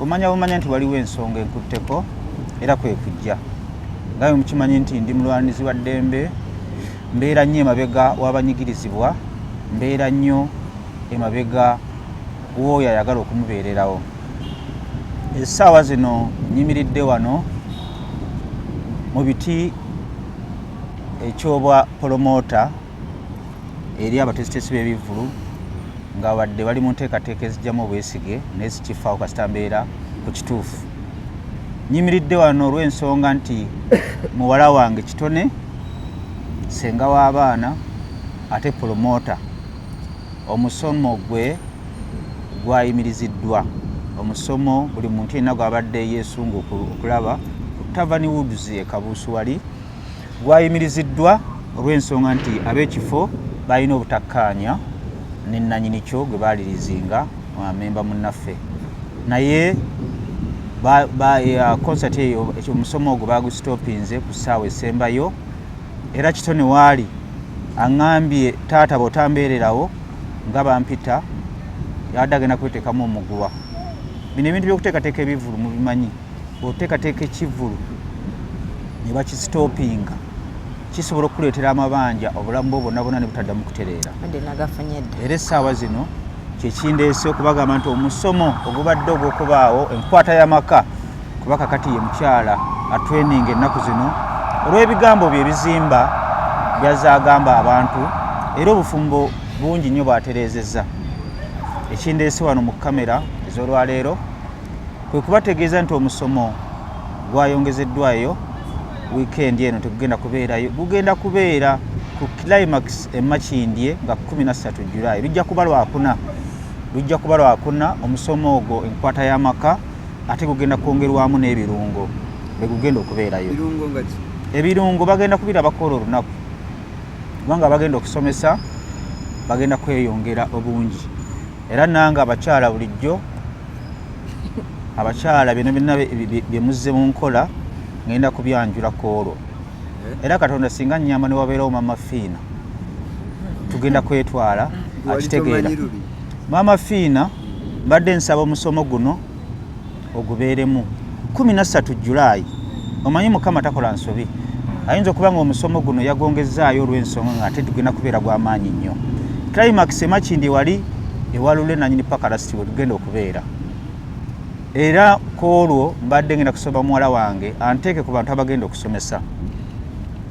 Omanya bumanya nti waliwo ensonga enkutteko era kwe kujja ngawe mukimanyi nti ndi mulwanizi wa ddembe mbeera nnyo emabega w'abanyigirizibwa mbeera nnyo emabega w'oyo ayagala okumubeererawo essaawa zino nyimiridde wano mu biti ekyobwa polomoota eri abatesitesi b'ebivvulu nga wadde bali mu nteekateeka ezijjamu obwesige naye zikifaawo kasita mbeera ku kituufu nyimiridde wano olw'ensonga nti muwala wange kitone senga w'abaana ate pulomota omusomo gwe gwayimiriziddwa omusomo buli muntu yenna gwabadde yesunga okulaba ku tavani woods ekabuusuwali gwayimiriziddwa olw'ensonga nti ab'ekifo balina obutakkaanya ne nnanyini kyo gwe baalirizinga memba munnaffe naye konsati eyo omusomo ogwo bagusitopinze ku ssaawa esembayo era kitone waali aŋambye taata bwotambeererawo nga bampita yabadde agenda kweteekamu omuguwa bino ebintu byokuteekateeka ebivulu mubimanyi bw'oteekateeka ekivvulu ne bakisitoopinga kisobola okukuleetera amabanja obulamu bwo bwonna bwonna ne butaddamu kutereera era essaawa zino kyekindeese okubagamba nti omusomo ogubadde ogw'okubaawo enkwata y'amaka kuba kakati ye mukyala atreninga ennaku zino olw'ebigambo bye bizimba byazze agamba abantu era obufumbo bungi nnyo bwatereezezza ekindeese wano mu kamera ez'olwaleero kwe kubategeeza nti omusomo gwayongezeddwayo wiikendi eno tegugenda kubeerayo gugenda kubeera ku climax emakindye nga 13 julayi lujja kuba lwakuna lujja kuba lwakuna omusomo ogwo enkwata y'amaka ate gugenda kwongerwamu n'ebirungo begugenda okubeerayo ebirungo bagenda kubira bakola olunaku kubanga bagenda okusomesa bagenda kweyongera obungi era nange abakyala bulijjo abakyala bino byonna bye muzze mu nkola ngenda kubyanjula ku olwo eh? era katonda singa nyamba ne wabeerawo maama fiina tugenda kwetwala akitegeera maama fiina mbadde nsaba omusomo guno ogubeeremu kumi na ssatu julaayi omanyi mukama takola nsobi ayinza okuba nga omusomo guno yagongezaayo olw'ensonga nga ate tugenda kubeera gw'amaanyi nnyo climax emakindi wali ewalule nanyini paka lasiti wetugenda okubeera era ku olwo mbadde ngenda kusoma muwala wange anteeke ku bantu abagenda okusomesa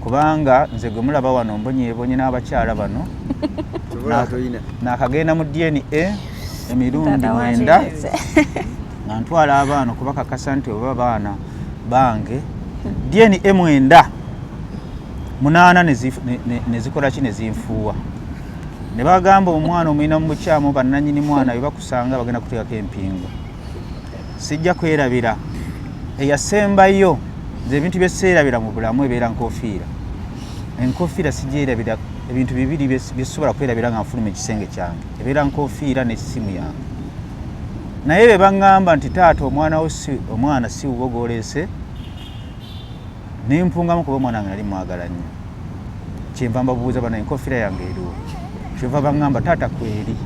kubanga nze gwe mulaba wano mbonyebonye n'abakyala bano nakagenda mu dna emirundi mwenda nga ntwala abaana okubakakasa nti oba baana bange dna mwenda munaana nezikola ki nezinfuuwa ne bagamba omwana omulina mu bukyamu bannanyini mwana bebakusanga bagenda kuteekako empingu sijja kwerabira eyasembayo nze ebintu byeseerabira mu bulamu ebeera nkofiira enkofiira sigyerabira ebintu bibiri byesobola kwerabira nga nfuluma ekisenge kyange ebeera nkofiira nesimu yange naye be baŋŋamba nti taata omwana wo si omwana si wubo gw'oleese nempungamu kuba omwana wange nali mwagala nnyo kyenva mbabuuza bana enkofiira yange eriwo kyova baŋŋamba taata kweri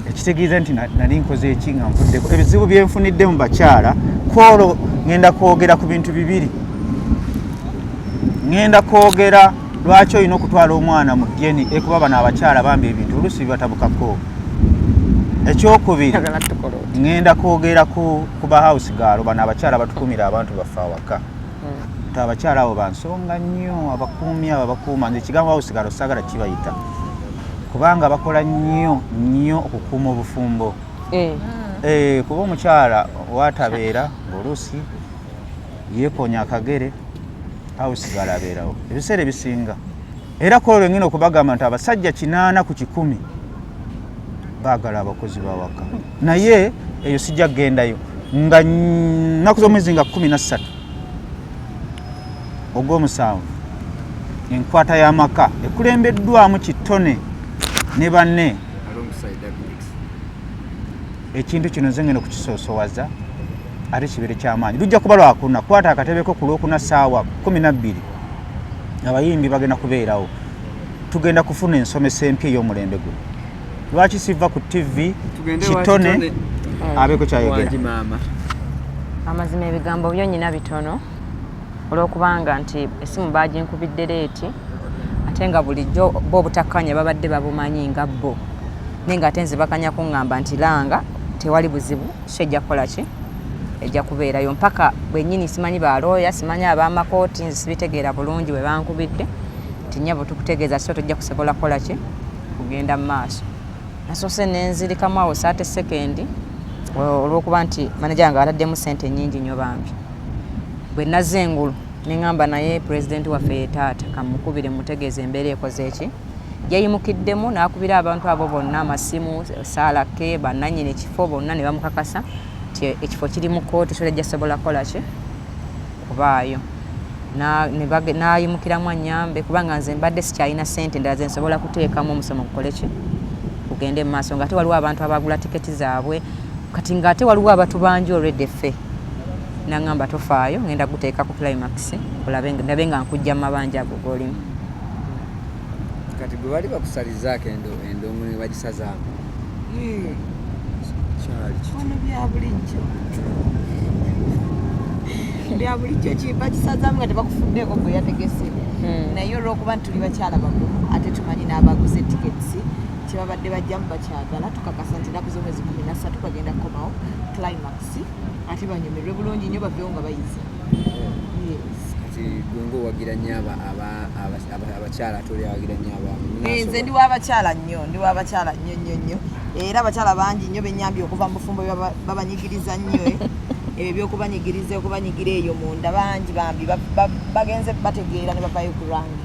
ekitegeeza nti nali nkoze eki nga nvuddeko ebizibu byenfunidde mu bakyala kwolwo ŋenda kwogera ku bintu bibiri ŋenda kwogera lwaki olina okutwala omwana mu dna ekuba bano abakyala bambi ebintu oluusi bibatabukako ekyokubiri ŋŋenda kwogera ku ba house gaalo bano abakyala batukumira abantu baffe awaka hmm. abakyala abo bansonga nnyo abakuumi abo abakuuma nze ekigambo house gaalo saagala kibayita kubanga bakola nnyo nnyo okukuuma obufumbo eh. Eh, kuba omukyala watabeera ngaoluusi yeekonya akagere house gaalo abeerawo ebiseera ebisinga era kwolwo lwengina okubagamba nti abasajja kinaana ku kikumi baagala abakozi bawaka naye eyo sijja kugendayo nga nnaku z'omwezi nga kumi nassatu ogw'omusanvu enkwata y'amaka ekulembeddwamu kitone ne banne ekintu kino nze ngenda okukisoosowaza ate kibeere kyamaanyi lujja kuba lwakuna kwata akatebeko ku lwokuna saawa kumi nabbiri abayimbi bagenda kubeerawo tugenda kufuna ensomesa empya ey'omulembe guno lwaki siva ku tv kitone eh, abeeko kyayogera amazima ebigambo byo nyina bitono olwokubanga nti esimu baginkubidde leeti ate nga bulijjo bo obutakkanya babadde babumanyi nga bo naye nga ate nzibakanya kuŋŋamba nti langa tewali buzibu so ejja kukola ki ejja kubeerayo mpaka bwennyini simanyi ba looya simanyi ab'amakooti nze sibitegeera bulungi bwe bankubidde nti nnyabo tukutegeeza so tojja kusobola kukola ki kugenda mu maaso nasoose nenzirikamu awo saate sekendi olwokuba nti manaja wange ataddemu sente nyingi nyo bambi bwe nazze engulu neŋŋamba naye pulezidenti waffe ye taata kamukubire mutegeeza embeera ekoze eki Yayimukiddemu n'akubira abantu abo bonna amasimu, Saalakke, bannannyini kifo bonna ne bamukakasa nti ekifo kiri mu kkooti so tejja sobola kukola ki kubaayo n'ayimukiramu annyambe kubanga nze mbadde sikyalina ssente endala ze nsobola kuteekamu omusomo gukole ki gugende mu maaso ng'ate waliwo abantu abagula tiketi zaabwe kati ng'ate waliwo abatubanja olwedde ffe naŋamba tofaayo ngenda kuteeka ku climax olabe ndabe nga nkujja mu mabanja ago golimu kati gwe bali bakusalizaako endongo ne bagisazaamu hmm. kyali kino byabulijjo byabulijjo kibakisazamu nga tebakufuddeeko gwe yategese hmm. naye olwokuba nti tuli bakyala bakulu ate tumanyi n'abaguze tickets kyebabadde bajjamu bakyagala tukakasa nti enaku z'omwezi kumi nassatu bagenda kukomawo climax ate banyumirwe bulungi nnyo bavewo nga bayize abakyala tolyawagira nyo abamuenze ndi wabakyala nnyo ndi wabakyala nnyo nnyo nnyo era abakyala bangi nnyo benyambye okuva mu bufumbo babanyigiriza nnyo eh. ebyo byokubanyigiriza okubanyigira eyo munda bangi bambi bagenze bategeera ne bavayo ku rangi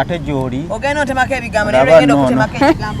ate gyoli ogenda otemako ebigambo naye ogenda okutemako ebigambo